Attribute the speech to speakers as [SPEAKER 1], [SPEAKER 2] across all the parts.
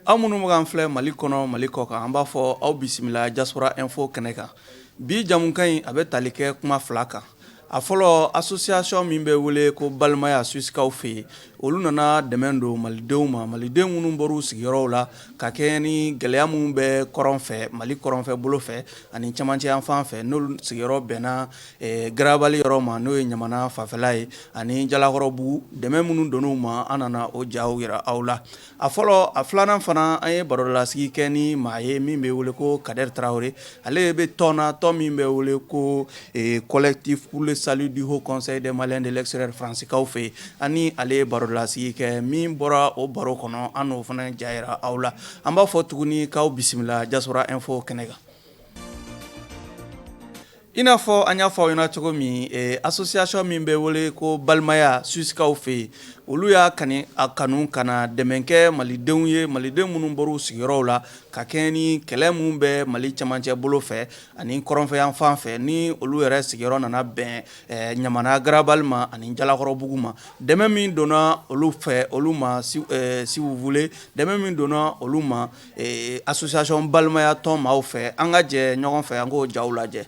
[SPEAKER 1] Aw minnu bɛ k'an filɛ mali kɔnɔ mali kɔ kan an b'a fɔ aw bisimila Diaspora Info kɛnɛ kan bi jamukan in a bɛ tali kɛ kuma fila kan a fɔlɔ association min bɛ wele ko balimaya suisikaw fɛ yen Olu nana dɛmɛ don malidenw ma malidenw minnu bɔr'u sigiyɔrɔw la ka kɛɲɛ ni gɛlɛya minnu bɛ kɔrɔn fɛ mali kɔrɔnfɛ bolo fɛ ani camancɛ yan fan fɛ n'olu sigiyɔrɔ bɛnna garabali yɔrɔ ma n'o ye ɲamana fanfɛla ye ani jalakɔrɔbugu dɛmɛ minnu donn'u ma an nana o jaw yira aw la A fɔlɔ a filanan fana an ye barolasigi kɛ ni maa ye min bɛ wele ko Kader Traoré ale bɛ tɔn na tɔn min bɛ wele ko collectif pour le salut du Haut Conseil des Maliens de l'extérieur fransikaw fɛ ani ale ye barolasigi kɛ min bɔra o baro kɔnɔ an n'o fana ja yira aw la an b'a fɔ tuguni k'aw bisimila Diaspora Info kɛnɛ kan I n'a fɔ an y'a fɔ aw ɲɛna cogo min ɛ association min bɛ wele ko balimaya Suisikaw fɛ yen, olu y'a kani a kanu ka na dɛmɛ kɛ malidenw ye maliden minnu bɔra u sigiyɔrɔw la ka kɛɲɛ ni kɛlɛ minnu bɛ Mali cɛmancɛ bolo fɛ ani kɔrɔnfɛyanfan fɛ ni olu yɛrɛ sigiyɔrɔ nana bɛn ɛ Ɲamana garabali ma ani jalakɔrɔbugu ma, dɛmɛn min donna olu fɛ olu ma si vous voulez dɛmɛn min donna olu ma ee association balimaya tɔn maaw fɛ an ka jɛ ɲɔgɔn fɛ an k'o ja lajɛ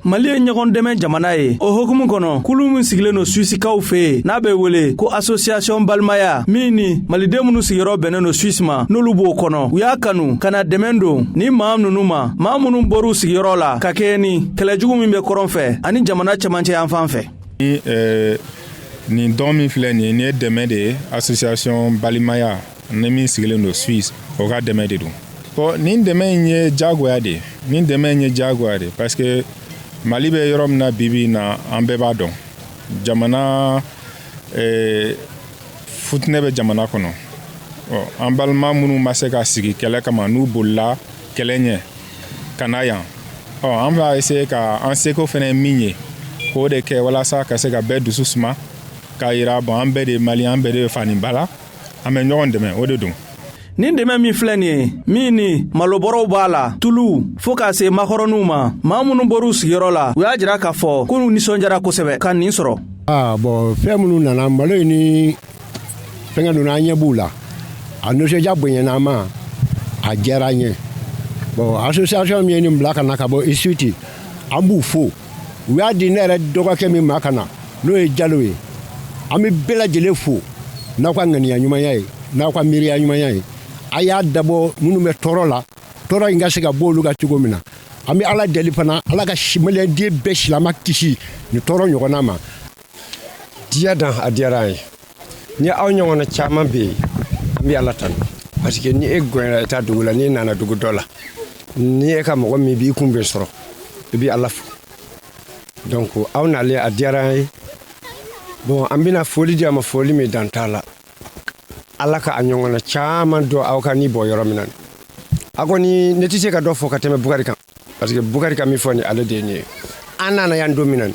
[SPEAKER 1] mali ye ɲɔgɔn dɛmɛ jamana ye o hukumu kɔnɔ kulu min sigilen don suisikaw fɛ yen n'a bɛ wele ko association balimaya min ni maliden minnu sigiyɔrɔ bɛnnen don suisi ma n'olu b'o kɔnɔ u y'a kanu ka na dɛmɛ don ni maa ninnu ma maa minnu bɔr'u sigiyɔrɔ la ka kɛɲɛ ni kɛlɛjugu min bɛ kɔrɔn fɛ ani jamana cɛmancɛ yan fan fɛ
[SPEAKER 2] nin don min filɛ nin ye nin ye dɛmɛ de ye association balimaya ni min sigilen don suisse o ka dɛmɛ de don bon nin dɛmɛ in ye jagoya de nin dɛmɛ in ye jagoya de parce que mali bɛ yɔrɔ min na bibi na an bɛɛ b'a dɔn jamana eh, futinɛ bɛ jamana kɔnɔ an balima minnu ma se ka sigi kɛlɛ kama n'u bolila kɛlɛ ɲɛ ka na yan ɔ an b'a essayer ka an seko fɛnɛ min ye k'o de kɛ walasa ka se ka bɛɛ dusu suma k'a yira bon an bɛɛ de ye mali an bɛɛ de bɛ fa ni ba la an bɛ ɲɔgɔn dɛmɛ o de don nin dɛmɛ
[SPEAKER 1] min filɛ nin ye min ni malobɔrɔw b'a la tuluw fo k'a se makɔrɔninw ma maa minnu bɔr'u sigiyɔrɔ la u y'a jira k'a fɔ k'olu nisɔnjara kosɛbɛ ka nin sɔrɔ aa bon fɛn
[SPEAKER 3] minnu nana malo ye ni fɛnkɛ ninnu an ɲɛ b'u la a nisɔndiya bonyana an ma a diyara an ye bon association min ye nin bila ka na ka bɔ isuti an b'u fo u y'a di ne yɛrɛ dɔgɔkɛ min ma ka na n'o ye jalo ye an bɛ bɛɛ lajɛlen fo n'aw ka ŋaniya ɲumanya ye n'aw ka miiriya ɲumanya ye a y'a dabɔ minnu bɛ tɔɔrɔ la tɔɔrɔ in ka se ka bɔ olu ka cogo min na an bɛ ala deli fana ala ka maliyɛnden bɛɛ silama kisi nin tɔɔrɔ ɲɔgɔnna ma
[SPEAKER 4] diya dan a diyara an ye ni aw ɲɔgɔnna caman bɛ yen an bɛ ala tanu parce que ni e gɔnyara i ta dugu la n'i nana dugu dɔ la ni e ka mɔgɔ min b'i kunbɛn sɔrɔ i bɛ ala fo donc aw nalen a diyara an ye bon an bɛna foli di a ma foli min dan t'a la ala ka a ɲɔgɔnna caman don aw ka nin bɔ yɔrɔ min na a kɔni ne tɛ se ka dɔ fɔ ka tɛmɛ bukari kan parce que bukari ka min fɔ ni ale de ye nin ye an nana yan don min na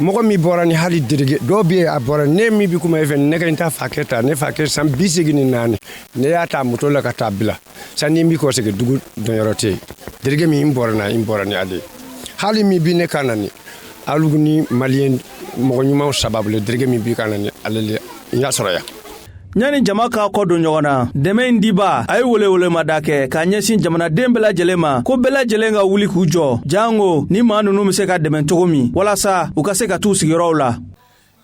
[SPEAKER 4] mɔgɔ min bɔra ni hali derege dɔw bɛ yen a bɔra ne min bɛ kuma e fɛ ne ka n ta fakɛ ta ne fakɛ san bi seegin ni naani ne y'a ta moto la ka t'a bila sanni n bi kɔ segin dugu donyɔrɔ tɛ yen derege min n bɔra na n bɔra ni ale ye hali min bi ne kan na ni alu ni maliyɛn mɔgɔ ɲumanw sababu le derege min bi n kan na ni ale le n y'a sɔrɔ yan ɲani jama
[SPEAKER 1] k'a kɔ don ɲɔgɔn na dɛmɛ in diba a ye welewelemada kɛ k'a ɲɛsin jamanaden bɛɛ lajɛlen ma ko bɛɛ lajɛlen ka wuli k'u jɔ janko ni maa nunu be se ka dɛmɛ cogo min walasa u ka se ka t'u sigiyɔrɔw la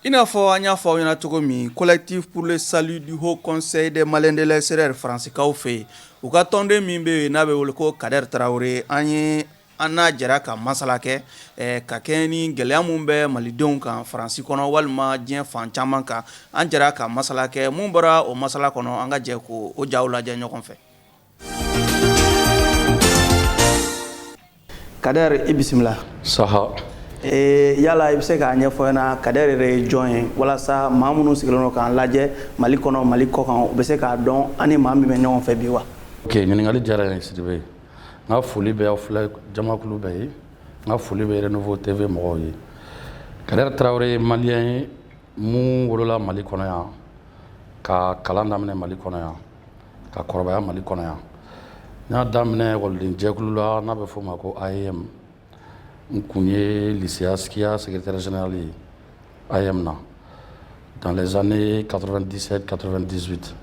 [SPEAKER 1] i n'a fɔ an y'a fɔ aw ɲɛna cogo min collectif pour le salut du haut conseil des maliens de l'extérieur faransikaw fɛ yen u ka tɔnden min bɛ yen n'a bɛ wele ko kader tarawele an ye an n'a jɛra ka masala kɛ ka kɛɲɛ ni gɛlɛya min bɛ malidenw kan faransi kɔnɔ walima diɲɛ fan caman kan an jɛra ka masala kɛ mun bɔra o masala kɔnɔ an ka jɛ k'o jaw lajɛ ɲɔgɔn fɛ kader i bisimila saha yala i bɛ se k'a ɲɛfɔ an ɲɛna kader yɛrɛ ye jɔn ye walasa maa minnu sigilen don k'an lajɛ mali kɔnɔ mali kɔkan u bɛ se k'a dɔn an ni maa min bɛ ɲɔgɔn fɛ bi wa ɲininkali diyara
[SPEAKER 5] n ye sidibe n ka foli bɛ aw filɛ jamakulu bɛɛ ye n ka foli bɛ Renouveau TV mɔgɔw ye Kader Tarawele ye maliyɛn ye mun wolola Mali kɔnɔ yan ka kalan daminɛ Mali kɔnɔ yan ka kɔrɔbaya Mali kɔnɔ yan n y'a daminɛ ekɔliden jɛkulu la n'a bɛ f'o ma ko AEEM n kun ye lycée Askia secrétaire général ye AEEM na dans les années 97 98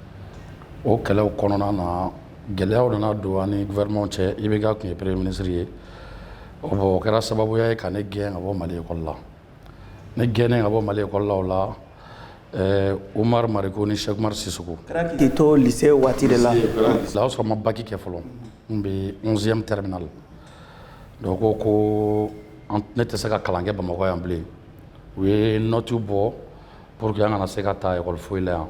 [SPEAKER 5] o kɛlɛw kɔnɔna na gɛlɛyaw nana don an ni gouvernement cɛ IBK kun ye premier ministre ye o bon o kɛra sababuya ye ka ne gɛn ka bɔ mali ekɔli la ne gɛnnen ka bɔ mali ekɔli la o la Eh, Umar Mariko ni Cheikh Umar Sissoko. K'i to lycée
[SPEAKER 1] waati de la. O y'a sɔrɔ n ma
[SPEAKER 5] baki kɛ fɔlɔ. N bɛ 11e terminal. Donc ko ne tɛ se ka kalan kɛ Bamakɔ yan bilen u ye note bɔ pour que an kana se ka taa école foyi la yan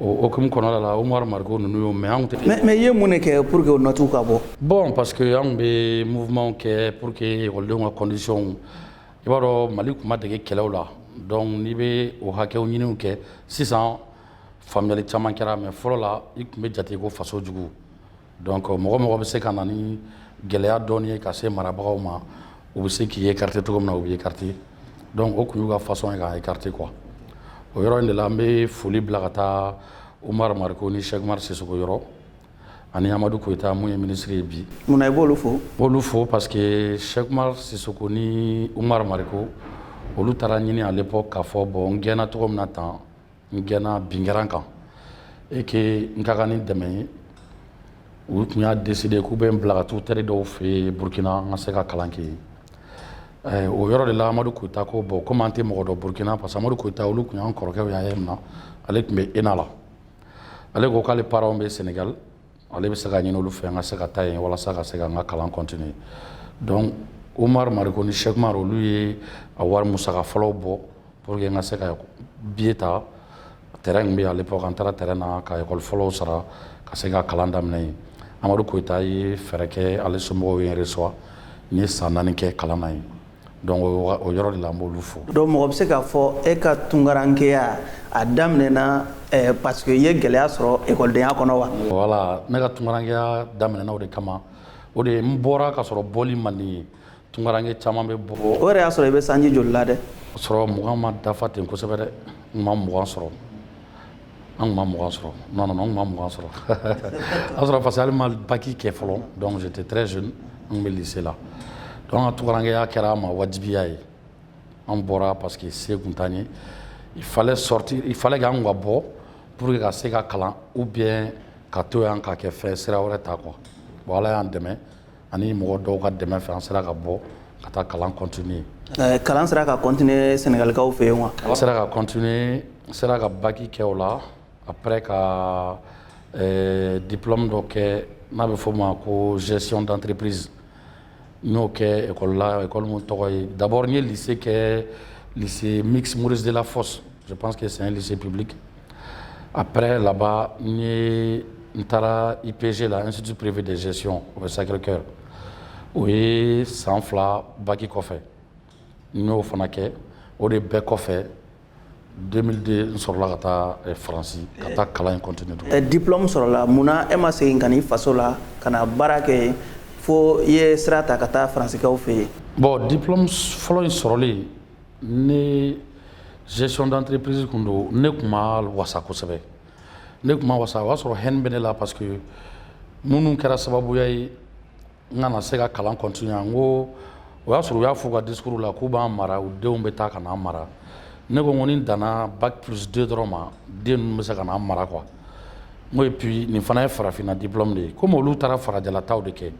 [SPEAKER 5] o hukumu kɔnɔna la Umaru Mariko ninnu y'o mɛn anw tɛ mais i ye mun de kɛ pour
[SPEAKER 1] que o note ka bɔ bon parce que anw
[SPEAKER 5] tun bɛ mouvementw kɛ pour que ekɔlidenw ka conditionw i b'a dɔn Mali tun ma dege kɛlɛw la donc n'i bɛ o hakɛw ɲiniw kɛ sisan faamuyali caman kɛra mais fɔlɔ la i tun bɛ jate ko faso jugu Don mɔgɔ mɔgɔ bɛ se ka na ni gɛlɛya dɔɔni ye ka se marabagaw ma u bɛ se k'i écarter cogo min na u b'i écarter donc o tun y'u ka façon ye k'a écarter quoi o yɔrɔ in de la an bɛ foli bila ka taa Umaru Mariko ni Sɛki Umaru Sisɔkɔ yɔrɔ ani Amadu Koyita min ye minisiri ye bi munna i b'olu
[SPEAKER 1] fo b'olu fo parce
[SPEAKER 5] que Sɛki Umaru Sisɔkɔ ni Umaru Mariko olu taara ɲini à l'époque k'a fɔ bon n gɛnna cogo min na tan N gɛnna binkɛrɛn kan et que n ka kan ni dɛmɛ ye, u tun y'a decider k'u bɛ n bila ka taa u teri dɔw fɛ yen Burukina n ka se ka kalan kɛ yen, ɛ o yɔrɔ de la Amadu Koyita ko bon komi an tɛ mɔgɔ dɔn Burukina parce que Amadu Koyita olu tun y'an kɔrɔkɛw ye AEEM na ale tun bɛ ENA la, ale ko k'ale parents bɛ Senegal ale bɛ se k'a ɲini olu fɛ n ka se ka taa yen walasa ka se ka n ka kalan continuer donc Umaru Mariko ni Sɛki Umaru olu ye a wari musaka fɔlɔw bɔ pour que n ka se ka billet ta train min bɛ yen à l'époque an taara train na ka école fɔlɔw sara ka se ka kalan daminɛ yen Amadu Koyita ye fɛɛrɛ kɛ ale somɔgɔw ye n reçoit n ye san naani kɛ kalan na yen Donc o yɔrɔ de la n b'olu fo. Donc mɔgɔ bɛ se k'a
[SPEAKER 1] fɔ e ka tunkarankeya a daminɛna ɛɛ parce que i ye gɛlɛya sɔrɔ ekɔlidenya kɔnɔ wa? Voilà ne ka
[SPEAKER 5] tunkarankeya daminɛna o de kama o de n bɔra ka sɔrɔ bɔli man di n ye tunkaranke caman bɛ bɔ. O yɛrɛ y'a sɔrɔ i bɛ sanji
[SPEAKER 1] joli la dɛ? Sɔrɔ mugan ma
[SPEAKER 5] dafa ten kosɛbɛ dɛ, n ma mugan sɔrɔ. An tun ma mugan sɔrɔ non non non n tun ma mugan sɔrɔ o y'a sɔrɔ parce que hali n ma bac kɛ fɔlɔ donc j'étais très jeune n tun bɛ lycée la donc an ka tunkarankeya kɛra an ma wajibiya ye an bɔra parce que se tun t'an ye il fallait sortir il fallait que an tun ka bɔ pour que ka se ka kalan ou bien ka to yan ka kɛ fɛn sira wɛrɛ ta quoi bon Ala y'an dɛmɛ ani mɔgɔ dɔw ka dɛmɛ fɛ an sera ka bɔ ka taa kalan continuer eh, kalan sera
[SPEAKER 1] ka continuer Senegalikaw fɛ yen wa an sera ka continuer
[SPEAKER 5] n sera ka baki kɛ o la après ka eh, diplôme dɔ kɛ n'a bɛ f'o ma ko gestion d'entreprise n y'o kɛ école la école min tɔgɔ ye d'abord n ye lycée kɛ lycée mixte Maurice Delafosse je pense que c'est un lycée public Après là-bas n ye n taara IPG la Institut privé de gestion o bɛ Sacré-Cœur o ye san fila bac kɔfɛ n y'o fana kɛ o de bɛɛ kɔfɛ 2002 n sɔrɔla ka taa faransi ka taa kalan in continuer diplôme
[SPEAKER 1] sɔrɔla munna e ma segin ka na i faso la ka na baara kɛ yen fo i ye sira ta ka taa faransikaw fɛ yen bon
[SPEAKER 5] diplôme fɔlɔ in sɔrɔlen Ne gestion d'entreprise kun don ne kun ma wasa kosɛbɛ ne kun ma wasa o y'a sɔrɔ haine bɛ ne la parce que minnu kɛra sababuya ye n kana se ka kalan continuer n ko o y'a sɔrɔ u y'a fɔ u ka discours la k'u b'an mara u denw bɛ taa ka n'an mara ne ko ko ni n danna bac plus deux dɔrɔn ma den ninnu bɛ se ka n'an mara quoi n ko et puis nin fana ye farafinna diplôme de ye komi olu taara farajɛlataw de kɛ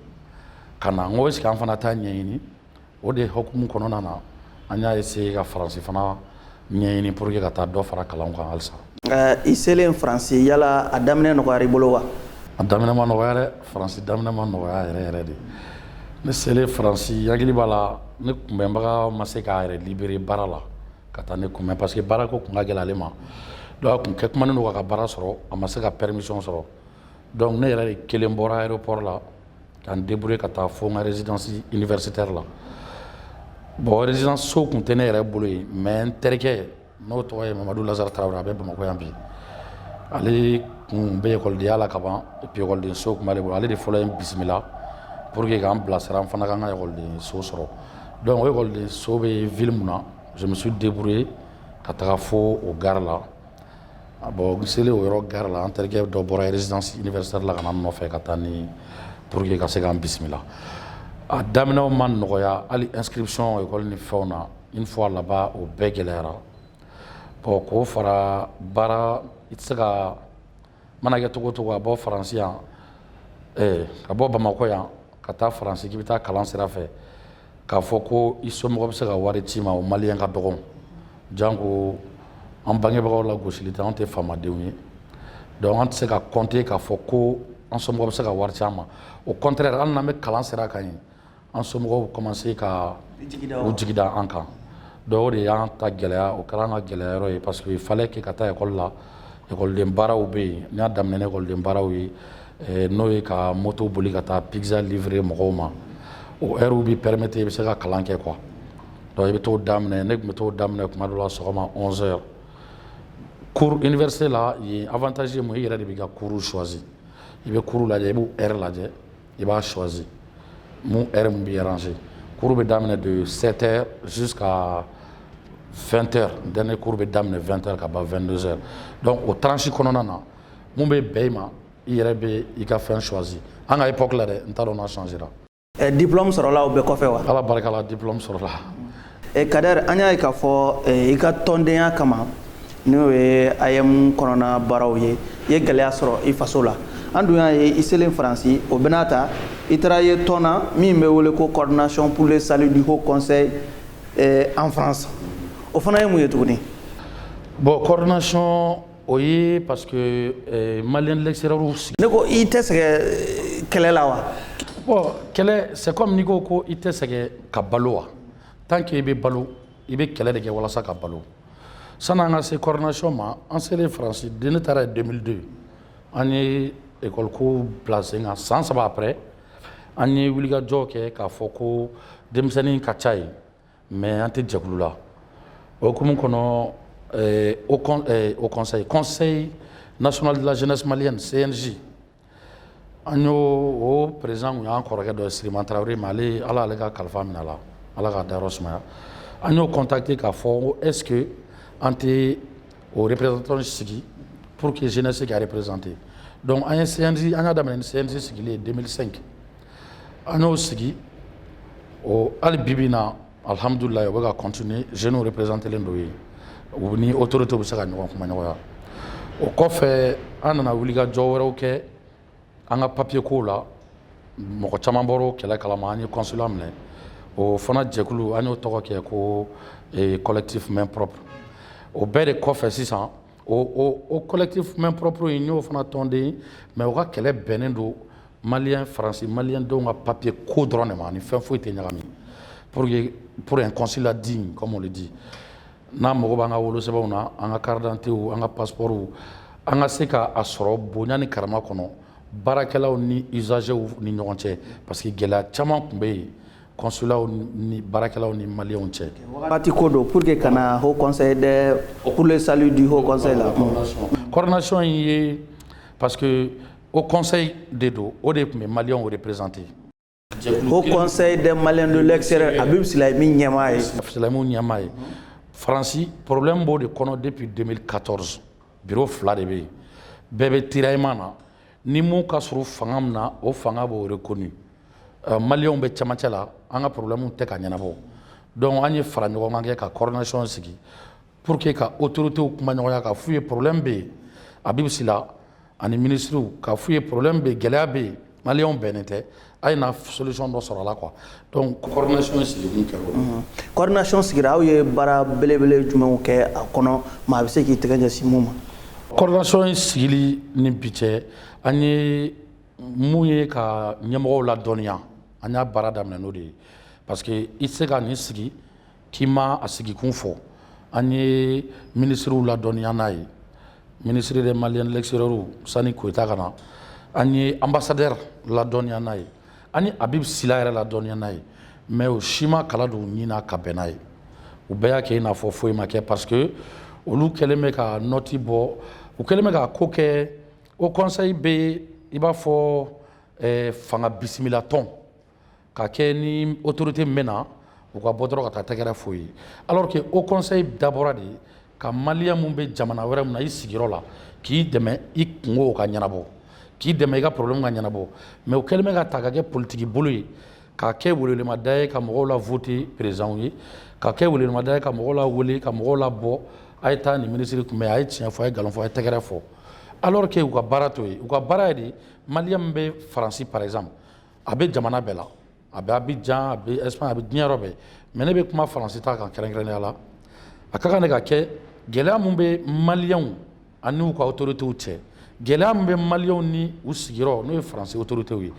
[SPEAKER 5] ka na n ko est-ce que an fana t'a ɲɛɲini o de hukumu kɔnɔna na an y'a essayer ka faransi fana ɲɛɲini pour que ka taa dɔ fara kalanw kan halisa. I selen
[SPEAKER 1] faransi yala a daminɛ nɔgɔyara i bolo wa? a daminɛ ma nɔgɔya
[SPEAKER 5] dɛ faransi daminɛ ma nɔgɔya yɛrɛ yɛrɛ de ne selen faransi hakili b'a la ne kunbɛnbaga ma se k'a yɛrɛ libérer baara la ka taa ne kunbɛn parce que baara ko kun ka gɛlɛn ale ma donc a kun kɛ kumanen don k'a ka baara sɔrɔ a ma se ka permission sɔrɔ donc ne yɛrɛ de kelen bɔra aéroport la ka n débrouiller ka taa fo n ka résidence universitaire la bon résidence so kun tɛ ne yɛrɛ bolo yen mais n terikɛ n'o tɔgɔ ye Mamadu Lazari Tarawele a bɛ Bamakɔ yan bi ale kun bɛ ekɔlidenya la ka ban et puis ekɔliden so kun b'ale bolo ale de fɔlɔ ye n bisimila pour que k'an bilasira n fana ka n ka ekɔliden so sɔrɔ donc o ekɔliden so bɛ ville mun na je me suis débrouillé ka taga fo o gare la Bon n selen o yɔrɔ gare la an terikɛ dɔ bɔra résidence universitaire la ka na n nɔfɛ ka taa ni pour que ka se k'an bisimila a daminɛw ma nɔgɔya hali inscription ekɔli ni fɛnw na une fois là-bas o bɛɛ gɛlɛyara bon k'o fara baara i tɛ se ka mana kɛ cogo o cogo a bɔ faransi yan eh, ka bɔ bamakɔ yan ka taa faransi k'i bɛ taa kalan sira fɛ k'a fɔ ko i somɔgɔ bɛ se ka wari ci i ma o maliyɛn ka dɔgɔ janko an bangebagaw la gosili tɛ an tɛ faamadenw ye donc an tɛ se ka compter k'a fɔ ko an somɔgɔ bɛ se ka wari ci an ma au contraire hali n'an bɛ kalan sira kan yen an somɔgɔw commencé ka u jigi da an kan donc o de y'an ka gɛlɛya o kɛra an ka gɛlɛya yɔrɔ ye parce que fallait que ka taa ekɔli la ekɔliden baaraw bɛ yen n y'a daminɛ ni ekɔliden baaraw ye eh, n'o ye ka moto boli ka taa pizza livrer mɔgɔw ma o ɛriw b'i permettre i bɛ se ka kalan kɛ quoi donc i bɛ t'o daminɛ ne tun bɛ t'o daminɛ kuma dɔ la sɔgɔma 11 heures cours université la yen avantage ye mun i yɛrɛ de b'i ka cours choisi i bɛ cours lajɛ i b'u ɛri lajɛ i b'a choisi mun heure mun b'i arranger cours bɛ daminɛ de 7 heures jusqu'à 20 heures dernier cours bɛ daminɛ 20 heures ka ban 22 heures donc o tranche kɔnɔna na mun bɛ bɛn i ma i yɛrɛ bɛ i ka fɛn choisi an ka époque la dɛ n t'a dɔn n'a changera. Ɛ diplôme
[SPEAKER 1] sɔrɔla o bɛɛ kɔfɛ wa? Ala barika la diplôme
[SPEAKER 5] sɔrɔla e Kader
[SPEAKER 1] an y'a ye k'a fɔ e, i ka tɔndenya kama n'o ye AEEM kɔnɔna baaraw ye i ye gɛlɛya sɔrɔ i faso la an dun y'a ye i selen faransi o bɛɛ n'a ta i taara ye tɔn na min bɛ wele ko coordination pour le salut du haut conseil e, en france o fana ye mun ye tuguni
[SPEAKER 5] bon coordination o ye parce que eh, maliens de l'extérieur sigi ne ko i tɛ sɛgɛn
[SPEAKER 1] eh, kɛlɛ la wa bon kɛlɛ
[SPEAKER 5] c'est comme n'i ko ko i tɛ sɛgɛn ka balo wa tant que i bɛ balo i bɛ kɛlɛ de kɛ walasa ka balo sani an ka se coordination ma an selen faransi de ne taara yen 2002 an ye école ko bila sen kan san saba après an ye wulikajɔ kɛ k'a fɔ ko denmisɛnnin ka ca yen mais an tɛ jɛkulu la o hukumu kɔnɔ au conseil conseil national de la jeunesse malienne cnj An y'o perez tun y'an kɔrɔkɛ dɔ siriman tarawele ma ale ala ale ka kalifa minɛ la ala ka da sumaya an y'o kɔnta ten k'a fɔ eke an tɛ o pereztɔ sigi pur que sen se kare perezte dɔnku an ye sɛgɛnsin an ka daminɛ sɛgɛnsɛn sigilen denmisɛnninsen an y'o sigi hali bibi na Alihamdulilahi o bɛ ka continuer jeunes representés len don yen, u ni autorités bɛ se ka ɲɔgɔn kumaɲɔgɔnya, o kɔfɛ an nana wulikajɔ wɛrɛw kɛ an ka papier kow la, mɔgɔ caman bɔra o kɛlɛ kalama an ye consulat minɛ, o fana jɛkulu an y'o tɔgɔ kɛ ko collectif main propre o bɛɛ de kɔfɛ sisan O o collectif main propre in n y'o fana tɔnden mais o ka kɛlɛ bɛnnen don malien faransi malien denw ka papier ko dɔrɔn de ma a ni fɛn foyi tɛ ɲagami pour pour un consulat digne comme on le dit n'an mago b'an ka wolosɛbɛnw na an ka carte d'identitéw an ka passeportw an ka se k'a sɔrɔ bonya ni karama kɔnɔ baarakɛlaw ni usagerw ni ɲɔgɔn cɛ parce que gɛlɛya caman tun bɛ yen kɔsulaw ni baarakɛlaw ni maliw cɛ waati ko don pour
[SPEAKER 1] que kana ho kɔsɔn dɛ purle sali di ho kɔsɔn la kɔrɔnasɔn
[SPEAKER 5] in ye parce que o kɔsɔn de don o de tun bɛ maliw o de perezte o
[SPEAKER 1] kɔsɔn dɛ mali don lɛsɛrɛ a bɛ fila min ɲɛmaa ye filamu ɲɛmaa ye
[SPEAKER 5] faransi porolenm b'o de kɔnɔ de bɛ don katɔs bi fila de bɛ yen bɛɛ bɛ tirama na ni min ka surun fanga min na o fanga b'o reconnu maliyɛnw bɛ camancɛ la an ka problème tɛ ka ɲɛnabɔ donc an ye fara ɲɔgɔn kan kɛ ka coordination sigi pour que ka autorités kuma ɲɔgɔnya ka f'u ye problème bɛ yen Habib Sila ani minisiriw ka f'u ye problème bɛ yen gɛlɛya bɛ yen maliyɛnw bɛnnen tɛ A ye na solution dɔ sɔrɔ a la quoi donc coordination in sigikun kɛra o de ye, unhun, coordination sigira
[SPEAKER 1] aw ye baara belebele jumɛnw kɛ a kɔnɔ maa bɛ se k'i tɛgɛ ɲɛsin mun ma? Coordination
[SPEAKER 5] in sigili ni bi cɛ an ye mun ye ka ɲɛmɔgɔw ladɔnniya an y'a baara daminɛ n'o de ye parce que i tɛ se ka nin sigi K'i ma a sigikun fɔ an ye minisiriw ladɔnniya n'a ye ministre des Maliens de l'extérieur sani Koyita ka na an ye ambassadeur ladɔnniya n'a ye an ye Habib Sila yɛrɛ ladɔnniya n'a ye mais o si ma kala don ɲin na ka bɛn n'a ye u bɛɛ y'a kɛ i n'a fɔ foyi ma kɛ parce que olu kɛlen bɛ ka nɔti bɔ u kɛlen bɛ ka ko kɛ haut conseil bɛ i b'a fɔ fanga bisimilatɔn ka kɛ ni autorité min bɛ na u ka bɔ dɔrɔn ka taa tɛgɛrɛ f'o ye alors que haut conseil dabɔra de ka maliyɛn min bɛ jamana wɛrɛ min na i sigiyɔrɔ la k'i dɛmɛ i kunko ka ɲɛnabɔ k'i dɛmɛ i ka problème ka ɲɛnabɔ mais u kɛlen bɛ k'a ta k'a kɛ politiki bolo ye ka kɛ welewelemada ye ka mɔgɔw la voter président ye ka kɛ welewelemada ye ka mɔgɔw lawele ka mɔgɔw labɔ a ye taa nin minisiri kunbɛn a ye tiɲɛ fɔ a ye nkalon fɔ a ye tɛgɛrɛ fɔ alors que u ka baara t'o ye u ka baara ye de maliyɛn min bɛ faransi par exemple a bɛ jamana bɛɛ la a bɛ Abidjan a bɛ Espagne a bɛ diɲɛ yɔrɔ bɛɛ mais ne bɛ kuma faransi ta kan kɛrɛnkɛrɛnnenya la a ka kan de ka kɛ gɛlɛya min bɛ maliyɛnw ani u ka autorités cɛ gɛlɛya min bɛ maliyɛnw ni u sigiyɔrɔ n'o ye faransi autorités ye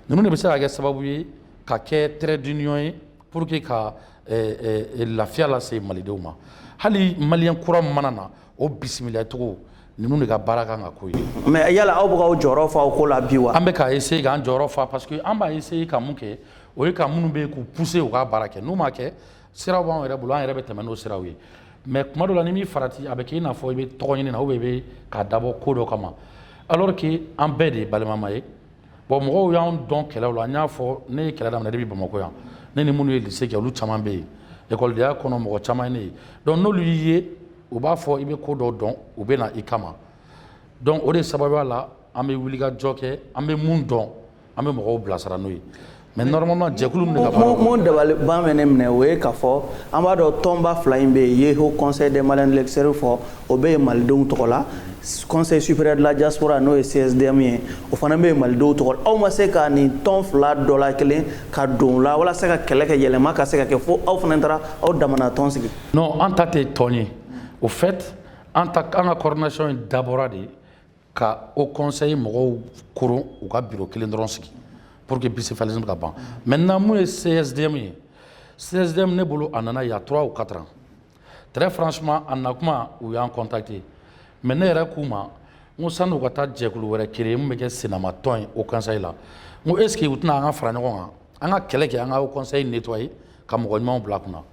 [SPEAKER 5] ninnu de bɛ se ka kɛ sababu ye ka kɛ trait d'union ye pour que ka eh, eh, eh, lafiya lase malidenw ma hali maliyɛn kura min mana na o bisimilacogo ninnu de ka baara kan ka k'o ye mais yala aw bɛ
[SPEAKER 1] k'aw jɔyɔrɔ fa o ko la bi wa an bɛ ka essayer k'an
[SPEAKER 5] jɔyɔrɔ fa parce que an b'a essayer ka mun kɛ o ye ka minnu bɛ yen k'u pousser u ka baara kɛ n'u ma kɛ siraw b'anw yɛrɛ bolo an yɛrɛ bɛ tɛmɛ n'o siraw ye mais tuma dɔ la n'i m'i farati a bɛ k'i n'a fɔ i bɛ tɔgɔɲini na ou bien i bɛ k'a dabɔ ko dɔ kama alors que an bɛɛ de ye balimama ye Bon mɔgɔw y'an dɔn kɛlɛw la an y'a fɔ ne ye kɛlɛ daminɛ depuis Bamakɔ yan ne ni minnu ye lycée kɛ olu caman bɛ yen ekɔlidenya kɔnɔ mɔgɔ caman ye ne ye donc n'olu y'i ye u b'a fɔ i bɛ ko dɔ dɔn u bɛ na i kama donc o de sababuya la an bɛ wulikajɔ kɛ an bɛ min dɔn an bɛ mɔgɔw bilasira n'o ye Mais normalement jɛkulu min ka minnu dabaliban bɛ
[SPEAKER 1] ne minɛ o ye k'a fɔ an b'a dɔn tɔnba fila in bɛ yen ye haut conseil des Maliens de l'extérieur fɔ o bɛ yen malidenw tɔgɔ la conseil supérieur de la diaspora n'o ye CSDM ye o fana bɛ yen malidenw tɔgɔ la aw ma se ka nin tɔn fila dɔ la kelen ka don o la walasa ka kɛlɛ kɛ yɛlɛma ka se ka kɛ fo aw fana taara aw damana tɔn sigi non an ta tɛ
[SPEAKER 5] tɔn ye au fait an ka coordination in dabɔra de ka haut conseil mɔgɔw koron u ka biro kelen dɔrɔn sigi pour que bicéphalisme ka ban maintenant mun ye csdm ye csdm ne bolo a nana il y a trois ou quatre ans très franchement a na kuma u y'an contacté mais ne yɛrɛ k'u ma n ko sani u ka taa jɛkulu wɛrɛ créer mun bɛ kɛ sinamatɔn ye haut conseil la n ko est ce que u tɛ na an ka fara ɲɔgɔn kan an ka kɛlɛ kɛ an ka haut conseil nettoyer ka mɔgɔ ɲumanw bila kunna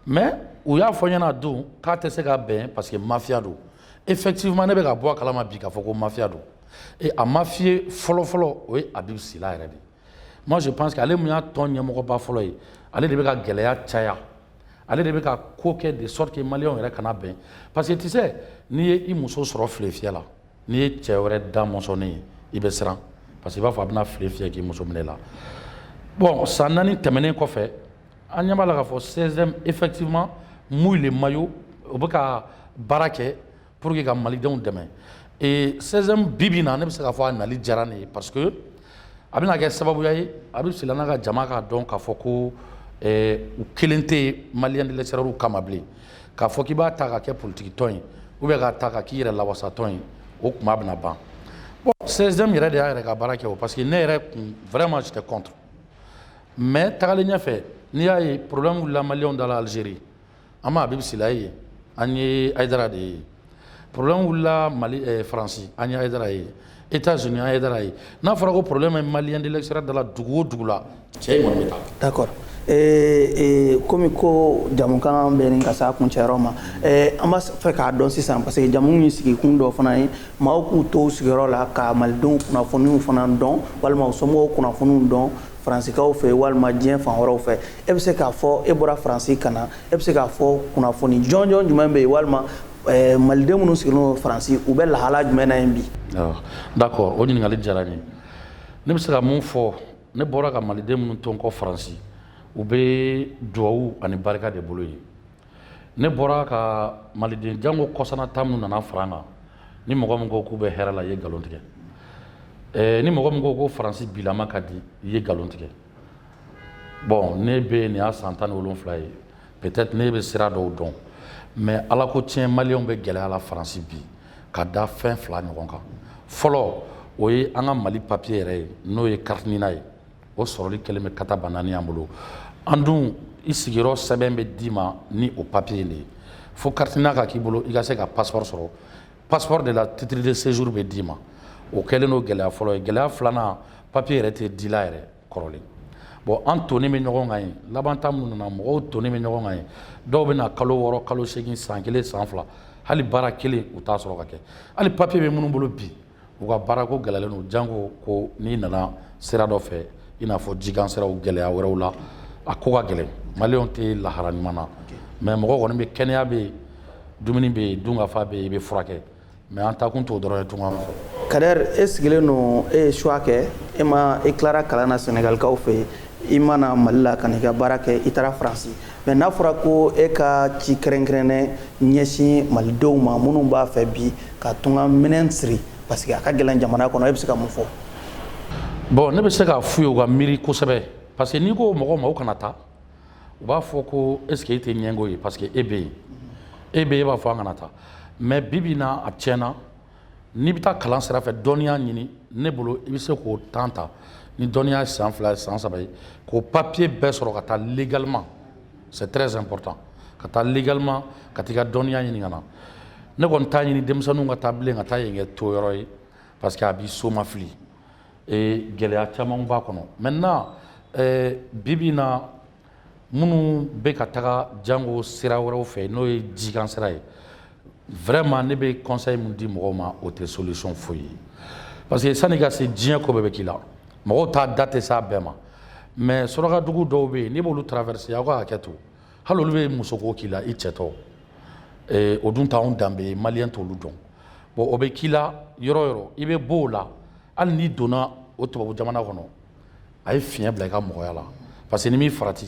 [SPEAKER 5] mais u y'a fɔ n ɲɛna don k'a tɛ se ka bɛn parce que mafia don effectivement ne bɛ ka bɔ a kalama bi k'a fɔ ko mafia don et a mafieux fɔlɔfɔlɔ o ye abibu sila yɛrɛ de moi je pense que ale mun y'a tɔn ɲɛmɔgɔba fɔlɔ ye ale de bɛ ka gɛlɛya caya ale de bɛ ka ko kɛ de sorte que maliyɛnw yɛrɛ kana bɛn parce que tu sais n'i ye i muso sɔrɔ file fiyɛ la n'i ye cɛ wɛrɛ da mɔsɔnnen ye i bɛ siran parce que i b'a fɔ a bɛna file fiyɛ k'i muso minɛ la bon san naani tɛmɛnen kɔfɛ An ɲɛ b'a la k'a fɔ CSDM effectivement mouille le maillot u bɛ ka baara kɛ pour que ka malidenw dɛmɛ et CSDM bi bi in na ne bɛ se k'a fɔ a nali diyara n ye parce que a bɛna kɛ sababuya ye Abibu Sila n'a ka jama k'a dɔn k'a fɔ ko u kelen tɛ yen maliyɛn de l'extérieur kama bilen k'a fɔ k'i b'a ta ka kɛ politikitɔn ye ou bien k'a ta ka k'i yɛrɛ lawasa tɔn ye o tuma a bɛna ban CSDM yɛrɛ de y'a yɛrɛ ka baara kɛ o parce que ne yɛrɛ kun vraiment j'étais contre Mais tagalen ɲɛfɛ n'i y'a ye problème wulila maliyɛnw da la Algérie an ma Abibu Sila ye an ye Ayidara de ye problème wulila Mali ɛɛ Faransi an ye Ayidara ye Etats Unis an ye Ayidara ye n'a fɔra ko problème bɛ maliyɛn de l'extérieur da la dugu o dugu la cɛ in kɔni bɛ taa. D'accord
[SPEAKER 1] ee ee komi ko jamukan bɛ ɲini ka se a kuncɛyɔrɔ ma ɛɛ an b'a fɛ k'a dɔn sisan parce que jamu in sigikun dɔ fana ye maaw k'u to u sigiyɔrɔ la ka malidenw kunnafoniw fana dɔn walima u somɔgɔw kunnafoniw dɔn faransikaw fɛ walima diɲɛ fan wɛrɛw fɛ e bɛ se k'a fɔ e bɔra faransi ka na e bɛ se k'a fɔ kunnafoni jɔnjɔn jumɛn bɛ yen walima eh, maliden minnu sigilen don faransi u bɛ lahala jumɛn na yen bi d'accord
[SPEAKER 5] o ɲininkali diyara n ye ne bɛ se ka mun fɔ ne bɔra ka maliden minnu to n kɔ faransi u bɛ duwawu ani barika de bolo yen Ne bɔra ka maliden janko kɔsana ta minnu nana fara an kan ni mɔgɔ min ko k'u bɛ hɛrɛ la i ye nkalon tigɛ eh, ni mɔgɔ min ko ko faransi bilama ka di i ye nkalon tigɛ bon ne bɛ nin y'a san tan ni wolonwula ye peut-être ne bɛ sira dɔw dɔn mais ala ko tiɲɛ maliyɛnw bɛ gɛlɛya la faransi bi ka da fɛn fila ɲɔgɔn kan fɔlɔ o ye an ka mali papiye yɛrɛ ye n'o ye kariti nina ye o sɔrɔli kɛlen bɛ kata banani an bolo an dun i sigiyɔrɔ sɛbɛn bɛ d'i ma ni o papiye in de ye fo carte NINA ka k'i bolo i ka se ka passeport sɔrɔ passeport de la titre de séjour bɛ d'i ma o kɛlen don gɛlɛya fɔlɔ ye gɛlɛya filanan papiye yɛrɛ tɛ dila yɛrɛ kɔrɔlen bon an tonnen bɛ ɲɔgɔn kan yen laban ta minnu nana mɔgɔw tonnen bɛ ɲɔgɔn kan yen dɔw bɛ na kalo wɔɔrɔ kalo seegin san kelen san fila hali baara kelen u t'a sɔrɔ ka kɛ hali papiye bɛ minnu bolo bi U ka baara ko gɛlɛlen don jango ko n'i nana sira dɔ fɛ i n'a fɔ jikan siraw gɛlɛya wɛrɛw la a ko ka gɛlɛn maliyɛnw tɛ lahara ɲuman na mɛ mɔgɔ kɔni bɛ kɛnɛya bɛ yen dumuni bɛ yen dunkafa bɛ yen i bɛ furakɛ mɛ an ta kun t'o dɔrɔn ye tunga fɛ Kader e
[SPEAKER 1] sigilen don e ye choix kɛ e ma e tilara kalan na sɛnɛgalikaw fɛ yen i ma na mali la ka n'i ka baara kɛ i taara faransi Mɛ n'a fɔra ko e ka ci kɛrɛnkɛrɛnnen ɲɛsin malidenw ma minnu b'a fɛ bi ka tunga minɛn siri parce que a ka gɛlɛn jamana kɔnɔ e bɛ se ka mun fɔ
[SPEAKER 5] bɔn ne bɛ se k'a f'u ye u ka miiri kosɛbɛ parce que n'i ko mɔgɔw ma u kana taa u b'a fɔ ko est-ce que e tɛ ɲɛgo ye parce que e bɛ yen e bɛ e b'a fɔ an kana taa mɛ bi bi in na a tiɲɛna n'i bɛ taa kalan sira fɛ dɔnniya ɲini ne bolo i bɛ se k'o temps ta ni dɔnniya san fila ye san saba ye k'o papiye bɛɛ sɔrɔ ka taa légalement c'est très important ka taa légalement ka taa i ka dɔnniya ɲini ka na ne kɔni t'a ɲini denmisɛnninw ka taa bilen ka taa yen kɛ to yɔrɔ ye parce que a b'i soma fili ee gɛlɛya caman b'a kɔnɔ maintenant ee, bi bi in na minnu bɛ ka taga jango sira wɛrɛw fɛ n'o ye jikan sira ye vraiment ne bɛ conseil min di mɔgɔw ma o tɛ solution foyi ye parce que sani ka se diɲɛ ko bɛɛ bɛ k'i la mɔgɔw t'a da tɛ s'a bɛɛ ma mais surakadugu dɔw bɛ yen n'i b'olu traverser aw ka hakɛ to hali olu bɛ musoko k'i la i cɛtɔ eh, o dun t'anw danbe ye maliyɛn t'olu dɔn bon o bɛ k'i la yɔrɔ o yɔrɔ i bɛ b'o la hali n'i donna o tubabu jamana kɔnɔ a ye fiɲɛ bila i ka mɔgɔya la parce que n'i m'i farati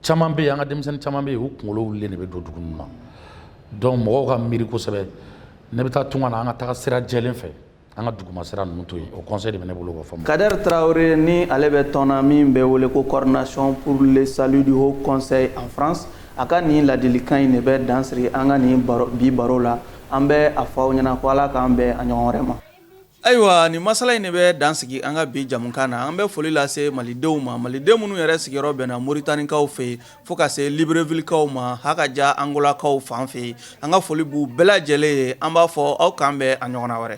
[SPEAKER 5] caman bɛ yen an ka denmisɛnnin caman bɛ yen u kunkolo wulilen de bɛ don dugu ninnu na donc mɔgɔw ka miiri kosɛbɛ n'i bɛ taa tunga na an ka taga sira jɛlen fɛ an ka duguma sira ninnu to yen o conseil de bɛ ne bolo k'o fɔ Kader Traore ni
[SPEAKER 1] ale bɛ tɔn na min bɛ wele ko coordination pour le salut du haut conseil en France a ka nin ladilikan in de bɛ dan siri an ka nin bi baro la an bɛ a fɔ aw ɲɛna ko ala k'an bɛn a ɲɔgɔn wɛrɛ ma Ayiwa nin masala in de bɛ dan sigi an ka bi jamukan na an bɛ foli lase malidenw ma maliden minnu yɛrɛ sigiyɔrɔ bɛnna moritanikaw fɛ yen fo ka se librevillekaw ma hakaja angolakaw fan fɛ yen an ka foli b'u bɛɛ lajɛlen ye an b'a fɔ aw k'an bɛn a ɲɔgɔnna wɛrɛ